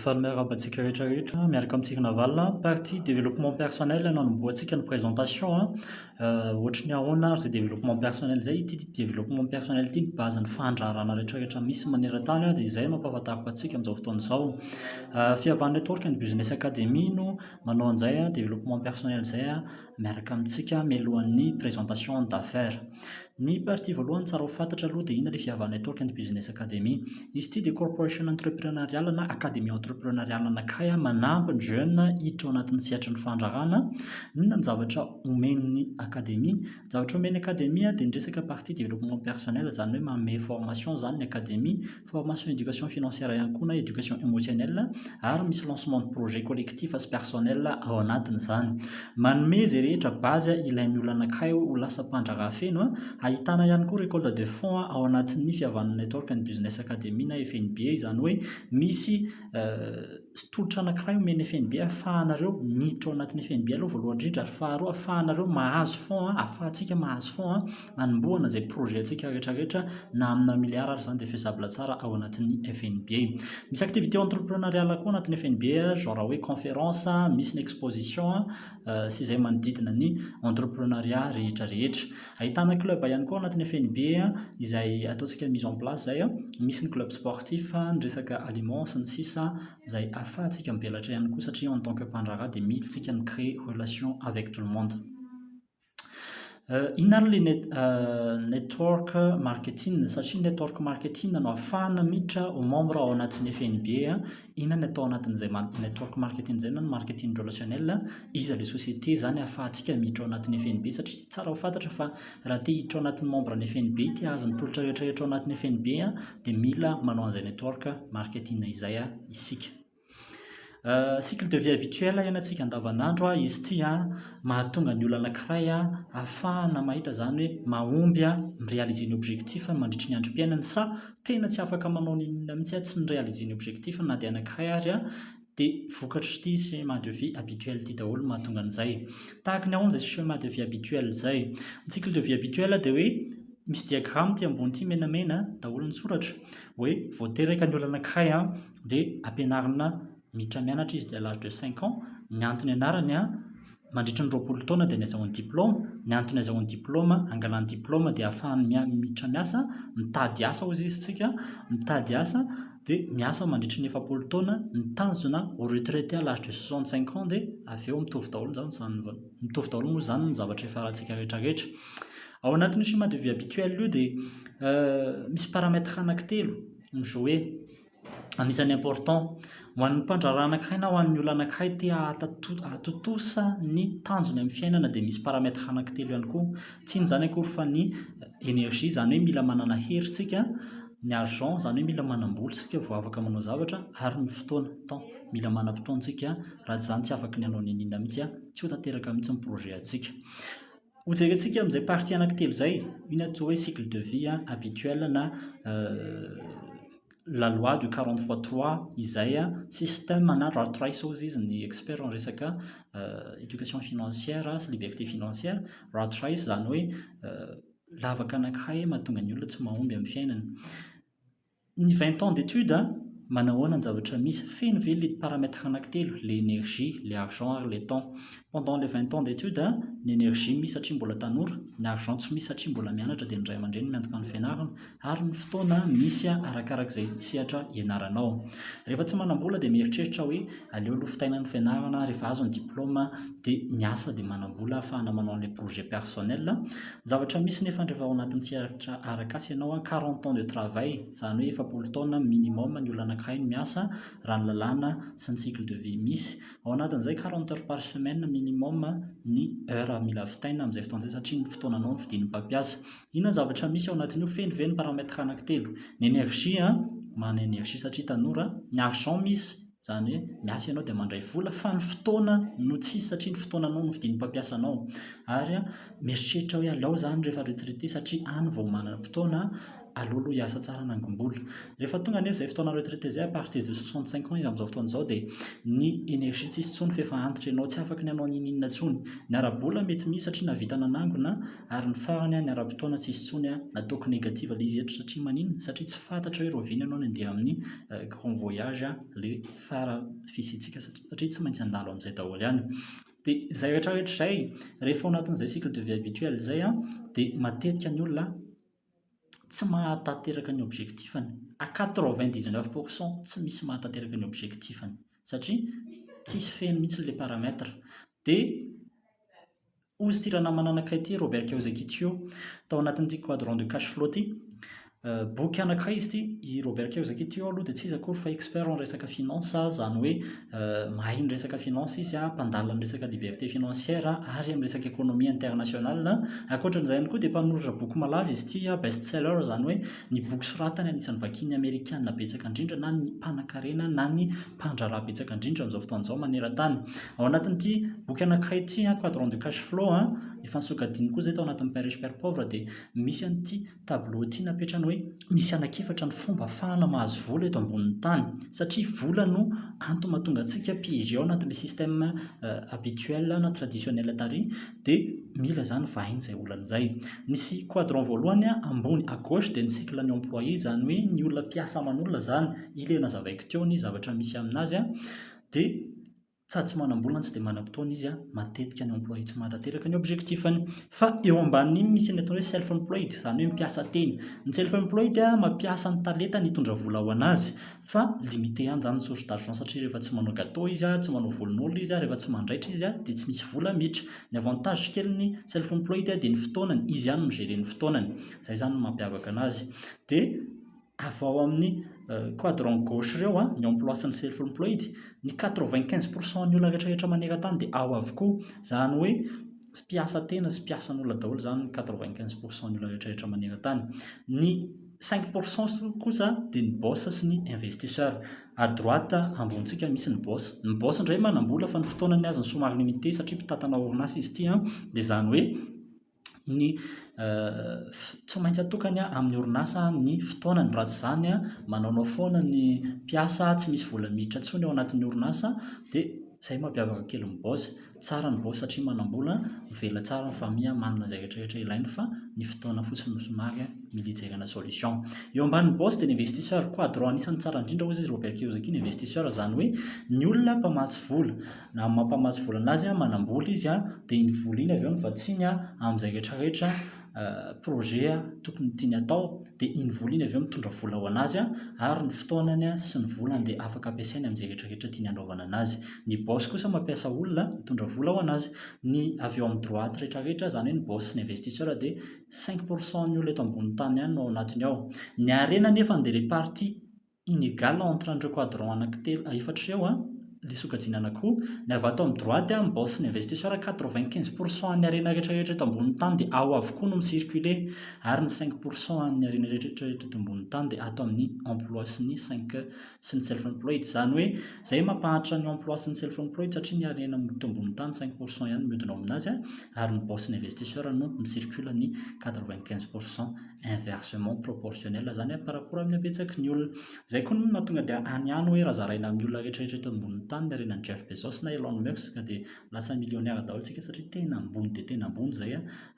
Faly miarahaba antsika rehetra rehetra miaraka amintsika Naval a! Partie développement personnel no hanombohantsika ny présentation a! Ohatry ny ahoana ary izay développement personnel izay? Ity développement personnel ity no base ny fandraharahana rehetra rehetra misy maneran-tany dia izay no ampahafantariko antsika amin'izao fotoana izao. Fihavan'ny Network and Business Academy no manao an'izay développement personnel izay. miaraka amintsika mialohan'ny présentation d'affaires. Ny partie voalohany tsara ho fantatra aloha dia inona ilay Fiavahana Network and Business Academy. Izy ity dia corporation entrepreneuriale na académie entrepreneuriale anankiray manampy ny jeunes hiditra ao anatin'ny sehatry ny fandraharahana. Inona ny zavatra omen'ny académie? Ny zavatra omen'ny académie dia ny resaka partie développement personnel izany hoe manome formation izany ny académie. formation éducation financière ihany koa na éducation émotionnelle ary misy lancement de projet collectif sy personnel ao anatiny izany. Manome izay rehetra base ilain'ny olona anankiray ho lasa mpandraharaha feno. Ahitana ihany koa récolte de fonds ao anatin'ny fihavan'ny network ny Business Academy na FNBA izany hoe misy tolotra anankiray omen'ny FNBA ahafahanareo miditra ao anatin'ny FNBA aloha voalohany indrindra ary faharoa ahafahanareo mahazo fonds, ahafahantsika mahazo fonds. hanombohana izay projet-ntsika rehetra rehetra na amina milliard ary izany dia faisable tsara ao anatin'ny FNBA. Misy activité entrepreneuriale koa anatin'ny FNBA, genre hoe conférence, misy ny exposition sy izay manodidina ny entrepreneuriat rehetra rehetra. Ahitana club ihany koa anatin'ny FNBA izay ataontsika mise en place izay, misy ny club sportif, ny resaka aliments sy ny sisa izay ahafahantsika mivelatra ihany koa satria en tant que mpandraharaha dia mila isika mi-créer relation avec tout le monde. Inona ary ilay net network marketing? Satria network marketing no ahafahana miditra ho membre ao anatin'ny FNB an, inona no atao ao anatin'izay ma- network marketing izay na ny marketing relationnel? Iza ilay société izany ahafahantsika miditra ao anatin'ny FNB? Satria tsara ho fantatra fa raha te hiditra ho anatin'ny membre ny FNB, te hahazo ny tolotra rehetra rehetra ao anatin'ny FNB an, dia mila manao an'izay network marketing izay isika. Cycle de vie habituel hiainantsika andavan'andro izy ity an, mahatonga ny olona anankiray an hahafahana mahita izany hoe mahomby an mi-réaliser ny objectif-ny mandritry ny androm-piainany sa tena tsy afaka manao n'inon'inona mihitsy an, tsy ni-réaliser ny objectif-ny na dia anankiray ary an, dia vokatr'ity schéma de vie habituel ity daholo no mahatonga an'izay. Tahaka ny ahoana izay schéma de vie habituel izay? Ny cycle de vie habituel dia hoe misy diagrama ity ambony ity menamena daholo ny soratra hoe vao teraka ny olona anankiray an, dia ampianarina miditra mianatra izy dia à l'âge de cinq ans, ny antony ianarany an, mandritra ny roapolo taona dia ny azahoany diplaoma, ny antony azahoany diplaoma, angalany diplaoma dia ahafahany mia- miditra miasa, mitady asa hozy izy tsika, mitady asa dia miasa mandritra ny efapolo taona, ny tanjona ho retraité à l'âge de soixante cinq ans dia avy eo mitovy daholo izany izany va- mitovy daholo moa izany ny zavatra ifarantsika rehetra rehetra. Ao anatin'io schéma de vie habituel io dia misy paramètre anankitelo mi-jouer. Anisan'ny important. Ho an'ny mpandraharaha anankiray na ho an'ny olona anankiray te hahatontosa ny tanjony amin'ny fiainana dia misy paramètre anankitelo ihany koa. Tsy inona izany akory fa ny énergie, izany hoe mila manana hery isika, ny argent, izany hoe mila manam-bola isika vao afaka manao zavatra ary ny fotoana, temps. Mila manam-potoana isika raha tsy izany tsy afaka ny hanao n'inon'inona mihitsy, tsy ho tanteraka mihitsy ny projet antsika. Ho jerentsika amin'izay partie anaky telo izay, io ny atao hoe cycle de vie habituel na la loi du quarante fois trois izay système na rat race hozy izy ny expert amin'ny resaka éducation financière sy liberté financière, rat race izany hoe lavaka anakiray mahatonga ny olona tsy mahomby amin'ny fiainany. Ny vingt ans d'étude a, manahoana ny zavatra misy, feno ve le paramètre anakitelo, le énergie, le argent ary le temps. Pendant le vingt ans d'étude a, ny énergie misy satria mbola tanora, ny argent tsy misy satria mbola mianatra dia ny ray aman-dreny miantoka ny fianarana, ary ny fotoana misy arakaraky izay sehatra ianaranao. Rehefa tsy manam-bola dia mieritreritra hoe, aleo aloha fitaina ny fianarana rehefa azo ny diplôma dia miasa dia manam-bola ahafahana manao an'ilay projet personnel, ny zavatra misy nefa an rehefa ao anatin'ny sehatra arak'asa ianao an, quarante ans de travail izany hoe efapolo taona minimum ny olona anankiray no miasa raha ny lalàna sy ny cycle de vie misy, ao anatin'izay quarante heures par semaine minimum ny heures mila vitaina amin'izay fotoana izay satria ny fotoananao no fidin'ny mpampiasa, inona ny zavatra misy ao anatin'io, feno ve ny paramètres anankitelo, ny énergie an, manana énergie satria tanora, ny argent misy, Izany hoe miasa ianao dia mandray vola fa ny fotoana no tsisy satria ny fotoananao no fidin'ny mpampiasa anao. Ary mieritreritra hoe aleo izany rehefa retraité satria any vao manana fotoana, aleo aloha hiasa tsara hanangom-bola. Rehefa tonga anefa izay fotoana retraité izay, à partir de soixante cinq ans izy amin'izao fotoana izao dia ny énergie tsy hisy intsony fa efa antitra ianao, tsy afaka ny hanao n'inon'inona intsony. Ny ara-bola mety misy satria nahavita nanangona Ary ny farany a, ny ara-potoana tsy hisy intsony a, nataoko negative le izy eto satria maninona? Satria tsy fantatra hoe rovina ianao ny andeha amin'ny grand voyage a, le fara fisiantsika satria satria tsy maintsy handalo amin'izay daholo ihany. Dia izay rehetra rehetra izay, rehefa ao anatin'izay cycle de vie habituel izay a, dia matetika ny olona tsy mahatanteraka ny objectif-ny, à quatre vingt dix neuf pour cent tsy misy mahatanteraka ny objectif-ny satria tsisy fehiny mihitsy ilay paramètre. Dia. Hozy ity ranamana anankiray ity, Robert Kiyosaki Tio, tao anatin'ity Quadrant de Cash Flow ity. Boky anankiray izy ity, i Robert Kiyosaki Tio aloha dia tsy iza akory fa expert amin'ny resaka finance, izany hoe mahay ny resaka finance izy, mpandala ny resaka liberté financière ary amin'ny resaka économie internationale. Ankoatra an'izay ihany koa dia mpanoratra boky malaza izy ity, best seller, izany hoe ny boky soratany anisan'ny vakin'ny Amerikana betsaka indrindra na ny mpanankarena na ny mpandraharaha betsaka indrindra amin'izao fotoana izao maneran-tany. Ao anatin'ity boky anankiray ity, Quadrant du Cash Flow, efa nosokajiny koa izay tao anatin'ny Père Riche Père Pauvre, dia misy an'ity tableau ity napetrany hoe misy anankiefatra ny fomba ahafahana mahazo vola eto ambonin'ny tany. Satria vola no antony mahatonga antsika piégé ao anatin'ilay système habituel na traditionnel tary, dia mila izany vahiny izay olana izay. Nisy quadrant voalohany ambony à gauche dia ny cycle ny employé, izany hoe ny olona mpiasa aman'olona izany, ilay nazavaiko teo ny zavatra misy amin'azy. dia sady tsy manam-bola no tsy dia manam-potoana izy, matetika ny employé tsy mahatanteraka ny objectif-ny. Fa eo ambanin'iny misy ny atao hoe self employed, izany hoe mpiasa tena. Ny self employed mampiasa ny talentany hitondra vola ho an'azy fa limité ihany izany ny source d'argent satria rehefa tsy manao gateau izy, tsy manao volon'olona izy, rehefa tsy mandraitra izy dia tsy misy vola miditra. Ny avantage kelin'ny self employed dia ny fotoanany, izy ihany no mi-gérer ny fotoanany. Izay izany no mampiavaka an'azy. Dia. avy ao amin'ny quadrant gauche ireo an, ny emploi sy ny self employed, ny quatre-vingt quinze pour cent ny olona rehetra rehetra maneran-tany dia ao avokoa, izany hoe mpiasa tena sy mpiasan'olona daholo izany ny quatre-vingt quinze pour cent ny olona rehetra rehetra maneran-tany, ny cinq pour cent kosa dia ny boss sy ny investisseur, à droite ambonintsika misy ny boss, ny boss indray manam-bola fa ny fotoanany azony somary limite satria mpitantana orinasa izy ity an, dia izany hoe ny tsy maintsy atokany amin'ny orinasa ny fotoanany. Raha tsy izany, manaonao foana ny mpiasa, tsy misy vola miditra intsony ao anatin'ny orinasa, dia izay no mampiavaka kely ny boss. Tsara ny boss satria manam-bola, mivelona tsara ny famille, manana izay rehetra rehetra ilainy fa ny fotoana fotsiny no somary mila ijerena solution. Eo ambanin'ny boss dia ny investisseur, quadro anisan'ny tsara indrindra hozy izy Robert Kiyosaki, ny investisseur izany hoe ny olona mpamatsy vola. Na ny mampamatsy vola anazy an, manambola izy an, dia iny vola iny avy eo no vatsiany an, amin'izay rehetra rehetra projet an tokony tiany atao, dia iny vola iny avy eo mitondra vola ho anazy an, ary ny fotoanany an sy ny volany dia afaka ampiasainy amin'izay rehetra rehetra tiany anaovana anazy. Ny boss kosa mampiasa olona hitondra vola ho anazy. Ny avy eo amin'ny droite rehetra rehetra, izany hoe ny boss sy ny investisseur dia cinq pour cent ny olona eto ambonin'ny tany ihany no ao anatiny ao. Ny harena anefa dia ilay partie. inégale entre an'ireo quadrant anakitelo efatra ireo an, ilay sokajiana anankiroa, ny avy ato amin'ny droite an, bourse n'investisseur quatre vingt quinze pour cent an'ny harena rehetra rehetra eto ambonin'ny tany dia ao avokoa no mi-circuler ary ny cinq pour cent an'ny harena rehetra rehetra eto ambonin'ny tany dia ato amin'ny emploi sy ny cinq sy ny self employed izany hoe izay mampahantra ny emploi sy ny self employed satria ny harena eto ambonin'ny tany cinq pour cent ihany no miodina ao aminazy an ary ny bourse n'investisseur no mi-circule ny quatre vingt quinze pour cent inversement proportionnel zany par rapport amin'ny habetsaky ny olona. Izay koa no nahatonga dia any ihany hoe raha zaraina amin'ny olona rehetrarehetra eto ambonin'ny tany ny harenan'i Jeff Bezos na Elon Musk dia lasa millionnaire daholo isika satria tena ambony dia tena ambony izay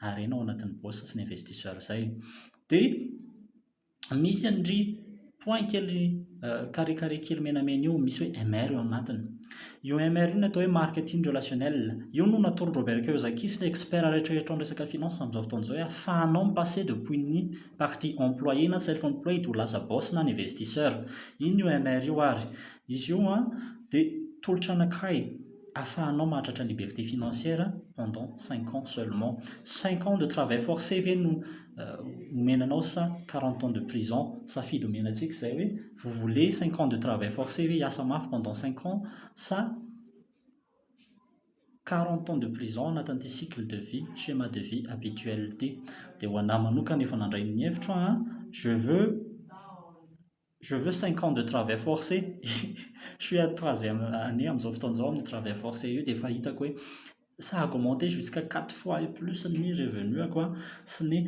harena ao anatin'ny bourse sy ny investisseurs izay. Dia misy an-dry point kely carré carré kely menamena io misy hoe MR eo anatiny. Io MR io no atao hoe marketing relationnel. Io no natoron'i Robert Kiyosaki sy ny experts rehetra eto amin'ny resaka finance amin'izao fotoana izao hoe ahafahanao mi-passer depuis ny partie employé na self employed ho lasa boss na ny investisseur. Iny io MR io ary. Izy io dia tolotra anankiray. afahanao mahatratra liberté financière pendant cinq ans seulement, cinq ans de travail forcé ve no omena anao sa quarante ans de prison? safidy omena antsika izay hoe vous voulez cinq ans de travail forcé ve hiasa mafy pendant cinq ans sa quarante ans de prison ao anatin'ity cycle de vie, schéma de vie habituel ity? dia ho anah manokana efa nandray ny hevitro aho an, je veux Je veux cinq ans de travail forcé je suis à troisième année amin'izao fotoana izao amin'ny travail forcé io dia efa hitako hoe ça a augmenté jusqu'à quatre fois et plus ny revenu-ako sy ny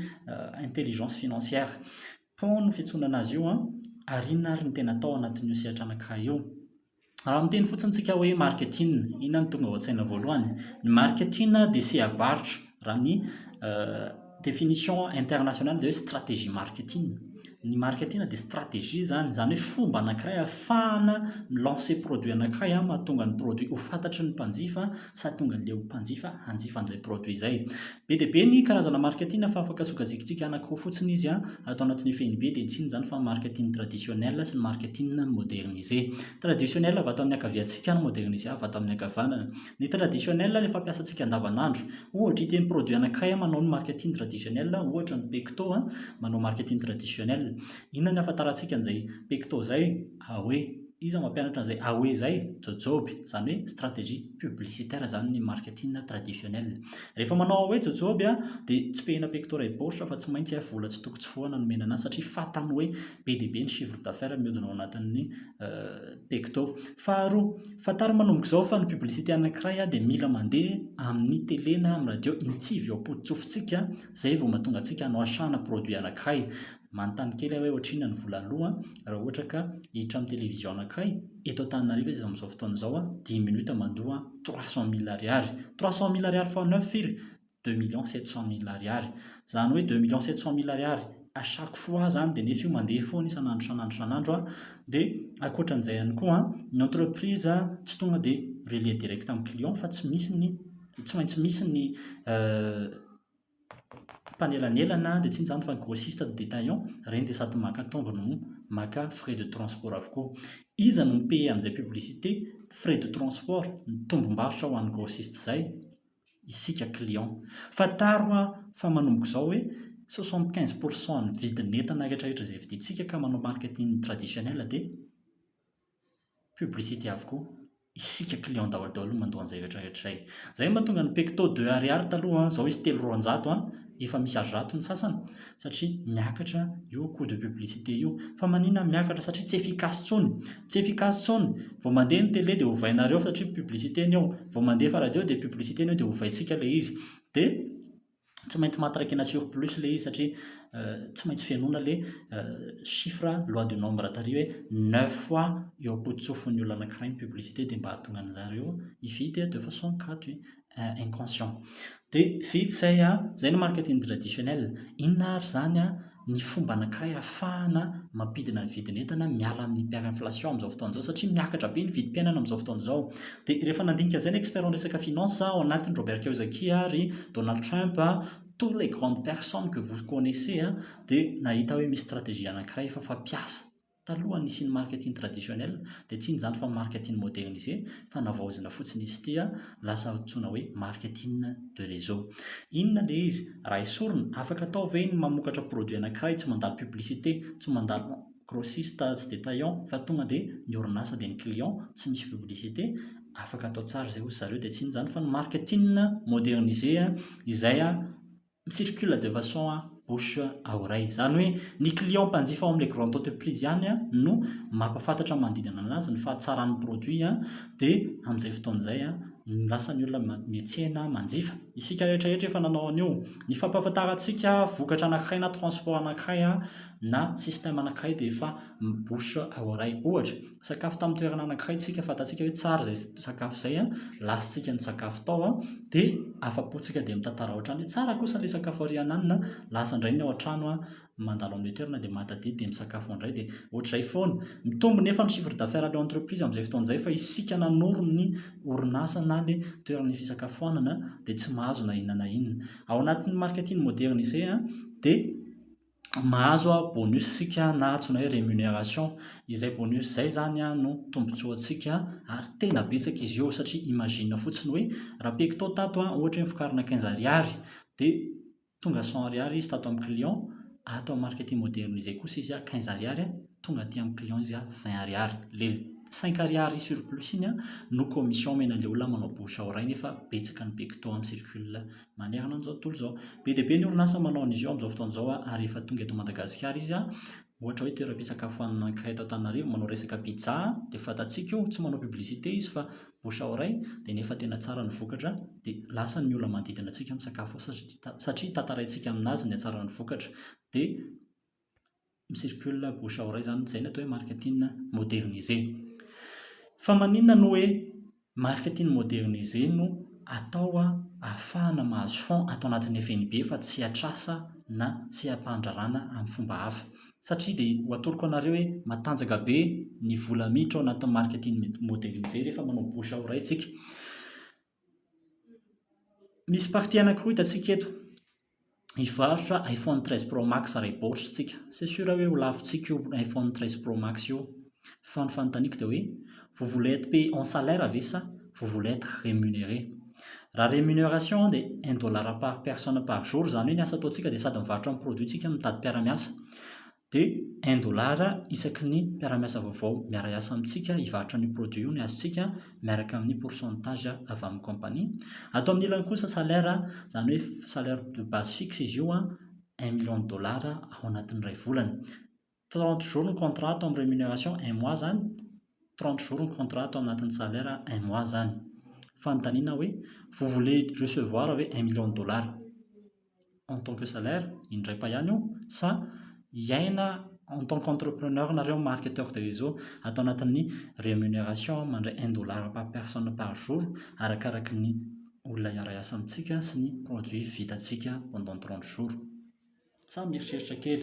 intelligence financière pont no fiantsoana an'azy io an, ary inona ary no tena atao anatin'io sehatra anankiray io? Raha miteny fotsiny isika hoe marketing, inona no tonga ao an-tsaina voalohany? Ny marketing dia seha-barotra raha ny définition internationale dia hoe stratégie marketing. Ny marketing dia stratégie izany, izany hoe fomba anankiray ahafahana mi-lancer produit anankiray mahatonga ny produit ho fantatry ny mpanjifa sady tonga leon'ny mpanjifa hanjifa an'izay produit izay. Be dia be ny karazana marika tiana fa afaka sokajikitsika anankiroa fotsiny izy ato anatin'ny fehiny be dia ny tsiny izany fa marika tian'ny traditionnel sy ny marika tian'ny moderniser. Traditionnel avy ato amin'ny ankaviantsika ary moderniser avy ato amin'ny ankavanana. Ny traditionnel ilay fampiasantsika andavanandro. Ohatra iteny produit anankiray manao ny marika tian'ny traditionnel ohatra ny pecto manao marika tian'ny traditionnel. Inona ny ahafantarantsika an'izay pecto izay? Awe, iza mampianatra an'izay Awe izay? Jojoby, izany hoe stratégie publicitaire izany ny marketing traditionnel. Rehefa manao Awe jojoby dia tsipihina pectora et borsa fa tsy maintsy vola tsy toko tsy fohana nomena anazy satria fatany hoe be dia be ny chiffre d'affaires mihodina ao anatin'ny pecto. Faharoa, fantaro manomboka izao fa ny publicité anankiray dia mila mandeha amin'ny télé na amin'ny radio intsivy ao am-pototsofitsika izay vao mahatonga antsika hanao achat-na produit anankiray. Manontany kely aho hoe ohatrinona ny vola aloa raha ohatra ka hiditra amin'ny télévision anankiray eto Antananarivo izy amin'izao fotoana izao an, dix minutes mandoa trois cent mille ariary. Trois cent mille ariary fois neuf firy? Deux millions sept cent mille ariary. Izany hoe deux millions sept cent mille ariary à chaque fois izany dia nefa io mandeha foana isan'andro isan'andro isan'andro an. Dia ankoatra an'izay ihany koa an, ny entreprise tsy tonga dia relier direct amin'ny client fa tsy misy ny, tsy maintsy misy ny mpanelanelana dia tsy inona izany fa grossiste de détaillant, ireny dia sady maka tongony no maka frais de transport avokoa. Iza no mi-paie an'izay publicité, frais de transport, ny tombom-barotra ho an'ny grossiste izay? Isika client. Fantaro hoa fa manomboka izao hoe soixante quinze pour cent ny vidin'entana rehetrarehetra izay vidintsika ka manao marketing traditionnel dia Publicité avokoa. Isika client daholo daholo no mandoa an'izay rehetra rehetra izay. Izay no mahatonga ny pecto deux ariary taloha an, izao izy telo roanjato an, efa misy azo rato ny sasany satria miakatra io coût de publicité io. Fa maninona miakatra? Satria tsy efficace intsony. Tsy efficace intsony. Vao mandeha ny télé dia ovainareo satria publicité ny eo. Vao mandefa radio dia publicité ny eo dia ovaintsika ilay izy. Dia. Tsy maintsy matraki na surplus le izy satria tsy maintsy fenoina le chiffre loi du nombre tary hoe neuf fois eo am-pototsofin'ny olona anankiray ny publicité dia mba hahatonga an'zareo hividy de façon kajy inconscient. Dia vita izay an! Izay ny marketing traditionnel. Inona ary izany an! ny fomba anankiray ahafahana mampidina ny vidin'entana miala amin'ny hyperinflation amin'izao fotoana izao satria miakatra be ny vidim-piainana amin'izao fotoana izao. Dia rehefa nandinika an'izay ny experts niresaka finance ao anatiny, Robert Kiyosaki ary Donald Trump, toutes les grandes personnes que vous connaissez dia nahita hoe misy stratégie anankiray efa fampiasa. Taloha ny hisian'ny marketing traditionnel dia tsy inona izany fa marketing modernisé fa navaozina fotsiny izy ity an, lasa antsoina hoe marketing de réseau. Inona ilay izy? Raha esorina, afaka atao ve ny mamokatra produit anankiray tsy mandalo publicité, tsy mandalo grossiste tsy détaillant fa tonga dia ny orinasa dia ny client, tsy misy publicité? Afaka atao tsara izay hoy ry zareo dia tsy inona izany fa ny marketing modernisé izay Ny circule de façon à bouche à oreille. Izany hoe ny client mpanjifa ao amin'ilay grande entreprise ihany no mampahafantatra ny manodidina an'azy ny fahatsaran'ny produit dia amin'izay fotoana izay no lasa ny olona miantsena, manjifa. Isika rehetra rehetra efa nanao an'io. Ny fampahafantarantsika vokatra anankiray na transport anankiray na système anankiray dia efa. ny bouche à oreille ohatra, sakafo tamin'ny toerana anankiray isika fantatsika hoe tsara izay sakafo izay an, lasantsika ny sakafo tao an, dia afa-pontsika dia mitantara ao an-trano hoe tsara kosa ilay sakafo ary hananina an, lasa indray ny ao an-trano an, mandalo amin'io toerana dia mahatadidy dia misakafo ao indray dia ohatr'izay foana, mitombo nefa ny chiffre d'affaires an'ilay entreprise amin'izay fotoana izay fa isika nanoro ny orinasa na ilay toerana fisakafoanana dia tsy mahazo na inona na inona, ao anatin'ny marketing modernisé an dia mahazo bonus isika na antsoina hoe rémunération, izay bonus izay izany no tombontsoantsika ary tena betsaka izy io satria imagine fotsiny hoe raha pecto tato ohatra hoe novokarina quinze ariary dia tonga cent ariary izy tato amin'ny client, ato amin'ny marketing moderne izay kosa izy quinze ariary tonga aty amin'ny client izy vingt ariary, ilay cinq ariary surplus iny no commission omen'ilay olona manao bouche à oreille nefa betsaka ny pecto amin'ny circule. manerana an'izao tontolo izao. Be dia be ny orinasa manao an'izy io amin'izao fotoana izao ary efa tonga eto Madagasikara izy. Ohatra hoe toeram-pisakafoanana anankiray eto Antananarivo manao resaka pizza, dia fantatsika io, tsy manao publicité izy fa bouche à oreille, dia nefa tena tsara ny vokatra dia lasa ny olona manodidina antsika misakafo ao satria tantaraintsika amin'azy ny hatsaran'ny vokatra. Dia. mi-circule bouche à oreille izany, izay ny atao hoe marketing modernisé. Fa maninona no hoe marketing modernisé no atao ahafahana mahazo fonds ato anatin'ny FNB fa tsy atr'asa na tsy ampandraràna amin'ny fomba hafa? Satria dia ho atoroko anareo hoe matanjaka be ny vola miditra ao anatin'ny marketing modernisé rehefa manao bouche à oreille isika. Misy partie anankiroa hitantsika eto, hivarotra iPhone treize pro max iray baoritra isika. C'est sûr hoe ho lavintsika io iPhone treize pro max io fa ny fanontaniako dia hoe vous voulez être payé en salaire ve sa vous voulez être remuneré? Raha remuneration dia un dollar par personne par jour, izany hoe ny asa ataontsika dia sady mivarotra ny produit-tsika no mitady mpiara-miasa. dia un dollar isaky ny mpiara-miasa vaovao miara-hiasa amintsika hivarotra an'io produit io ny azontsika miaraka amin'ny pourcentage avy amin'ny compagnie. Ato amin'ny ilany kosa salaire, izany hoe salaire de base fixe izy io, un million de dollars ao anatin'ny iray volana. Trente jours ny contrat ato amin'ny rémunération, un mois izany, trente jours ny contrat ato anatin'ny salaire, un mois izany. Fanontaniana hoe vous voulez recevoir ve un million de dollars? en tant que salaire indray pa ihany io sa hiaina en tant qu'entrepreneur nareo marketeur de réseau ato anatin'ny rémunération mandray un dollar par personne par jour arakaraky ny olona hiara-hiasa amintsika sy ny produit vitantsika pendant trente jours sa mieritreritra kely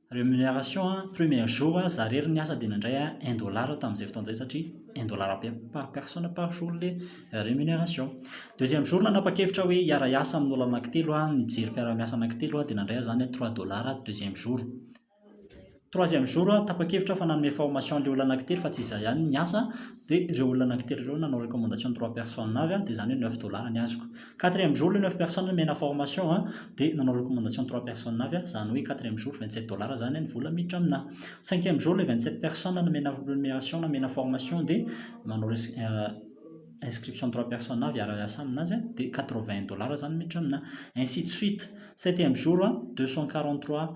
Rémunération a, premier jour a, za rery niasa dia nandray a un dollar tamin'izay fotoana izay satria un dollar pe- par personne par jour le rémunération. Deuxième jour nanapa-kevitra aho hoe hiara hiasa amin'olo anankitelo aho, nijery mpiara-miasa anankitelo aho dia nandray aho izany a trois dollars deuxième jour. Troisième jour a, tapa-kevitra aho fa nanome formation an'ilay olona anankitelo fa tsy izaho ihany niasa, dia ireo olona anankitelo ireo nanao recommandation trois personnes avy dia izany hoe neuf dollars ny azoko quatrième jour le neuf personnes nomena formation dia nanao recommandation trois personnes avy izany hoe quatrième jour vingt sept dollars izany ny vola miditra aminà cinquième jour le vingt sept personnes nomena rémunération nomena formation dia manao euh, inscription trois personnes avy hiara hiasa aminazy dia quatre vingt dollars izany miditra aminà ainsi de suite septième jour deux cent quarante trois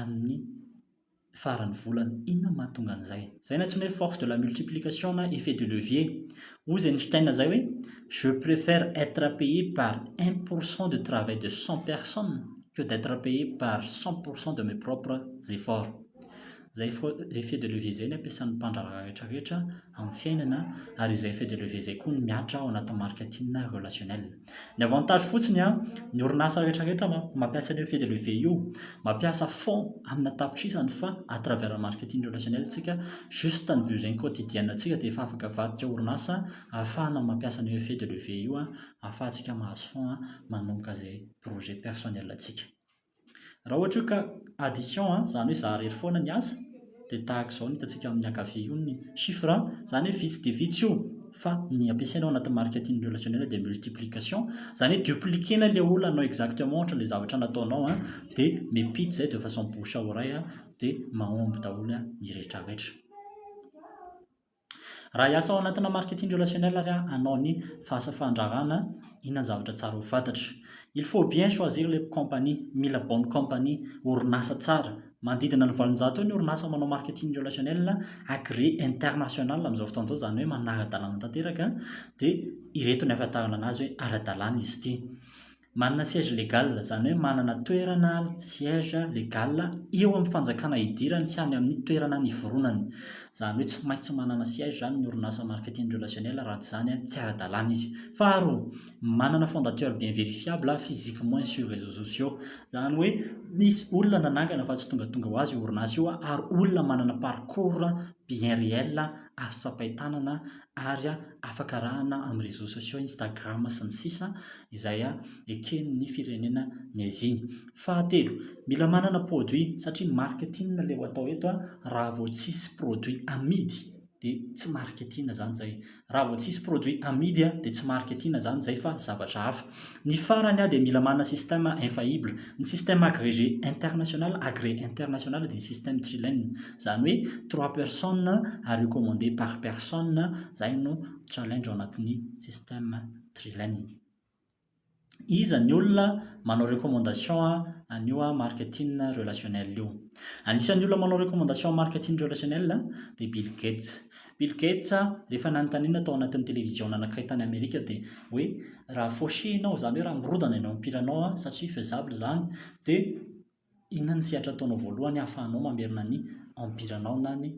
amin'ny faran'ny volana. Inona no mahatonga an'izay? Izay no antsoina hoe force de la multiplication na effet de levier. Hoy izy Einstein izay hoe, Je préfère être payé par un pour cent de travail de cent personnes que d'être payé par cent pour cent de mes propres efforts. Izay effet de levier izay no ampiasan'ny mpandraharaha rehetra rehetra amin'ny fiainana, ary izay effet de levier izay koa no mihatra ao anatin'ny marketing relationnel. Ny avantage fotsiny an, ny orinasa rehetra rehetra mampiasa an'io fil de levier io, mampiasa fonds amina tapitrisany fa à travers marketing relationnel tsika, juste ny besoin quotidienne tsika dia efa afaka avadika orinasa ahafahana mampiasa an'io fil de levier io ahafahantsika mahazo fonds manomboka izay projet personnel tsika. Raha ohatra hoe ka addition an, izany hoe zaraery foana ny asa, dia tahaka izao no hitantsika amin'ny ankavia io ny chiffre an, izany hoe vitsy dia vitsy io fa ny ampiasaina ao anatin'ny marketing relationnel dia multiplication, izany hoe dupliquer-na ilay olona hanao exactement ohatra ilay zavatra nataonao an, dia miampita izay de façon bouche à oreille dia mahomby daholo ny rehetra rehetra. Raha hiasa ao anatina marketing relationnel ary aho hanao ny fahasa fandrarana, inona ny zavatra tsara ho fantatra? Il faut bien choisir les compagnies, mila bonne compagnie, orinasa tsara. Manodidina ny valonjato eo ny orinasa manao marketing relationnel agreé international amin'izao fotoana izao, izany hoe manara-dalàna tanteraka, dia ireto ny ahafantarana an'azy hoe ara-dalàna izy ity. Manana siège légal, izany hoe manana toerana, siège, légal, eo amin'ny fanjakana idirany sy any amin'ny toerana niforonany. Izany hoe tsy maintsy manana siège izany ny orinasa marketing relationnel raha tsy izany tsy ara-dalàna izy. Faharoa, manana fondateur bien vérifiable physiquement et sur réseaux sociaux. Izany hoe misy olona nanangana fa tsy tongatonga ho azy io orinasa io ary olona manana parcours bien réel azo tsapain-tanana ary afaka arahana amin'ny réseaux sociaux, Instagram sy ny sisa, izay eken'ny firenena niaviany. Fahatelo, mila manana produit satria marketing ilay atao eto, raha vao tsisy produit amidy dia tsy marketing izany izay, raha vao tsisy produit amidy dia tsy marketing izany izay fa zavatra hafa. Ny farany aho dia mila manana système infaillible. Ny système agrégé international, agré international, dia ny système trilène. Izany hoe trois personnes à recommander par personne, izay no challenge ao anatin'ny système trilène. Iza ny olona manao recommandation an'io marketing relationnel io? Anisan'ny olona manao recommandation marketing relationnel dia Bill Gates. Bill Gates rehefa nanontaniana tao anatin'ny televiziona anankiray tany Amerika dia hoe raha fauché ianao izany hoe raha mirodana ianao ampilanao satria faisable izany dia inona ny sehatra ataonao voalohany hahafahanao mamerina ny empiranao na ny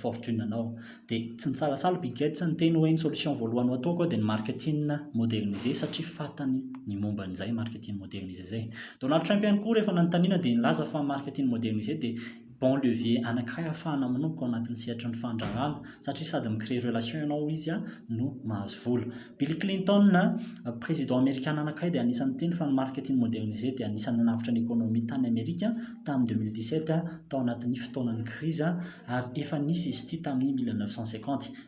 fortune anao dia tsy nitsalatsaly Bill Gates niteny hoe ny solution voalohany ho ataoko dia ny marketing modernisé satria fantany ny momba an'izay marketing modernisé izay. Donald Trump ihany koa rehefa nanontaniana dia nilaza fa marketing modernisé dia bon levier anankiray ahafahana manomboka ao anatin'ny sehatry ny fandraharahana satria sady mi créer relation ianao ao izy no mahazo vola. Bill Clinton, Président Amerikana anankiray dia anisan'ny niteny fa ny marketing modernisé dia anisan'ny nanavotra ny économie tany Amerika tamin'ny 2017 tao anatin'ny fotoanan'ny krizy ary efa nisy izy ity tamin'ny 1950.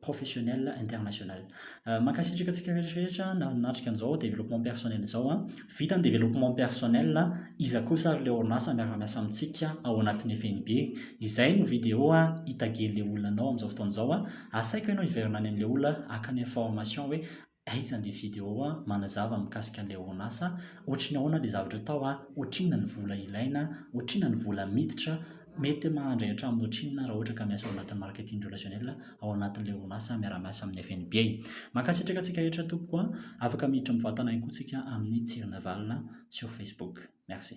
professionnel international. Mankasitraka antsika rehetra rehetra nanatrika an'izao développement personnel izao a. Vita ny développement personnel, iza kosa ary ilay orinasa miara-miasa amintsika ao anatin'ny FNB? Izay no vidéo hitagian'ilay olona anao amin'izao fotoana izao a. Asaiko ianao hiverina any amin'ilay olona haka ny information hoe Aiza le video a manazava mikasika an'ilay onasa ohatry ny ahoana le zavatra atao a ohatrinona ny vola ilaina ohatrinona ny vola miditra mety mahandray hatramin'ny ohatrinona raha ohatra ka miasa ao anatin'ny marketing relationnel ao anatin'ilay onasa miara miasa amin'ny fnb e mankasitraka antsika rehetra tompoko a afaka miditra mivantana ihany koa tsika amin'ny tsirinavalona sur facebook merci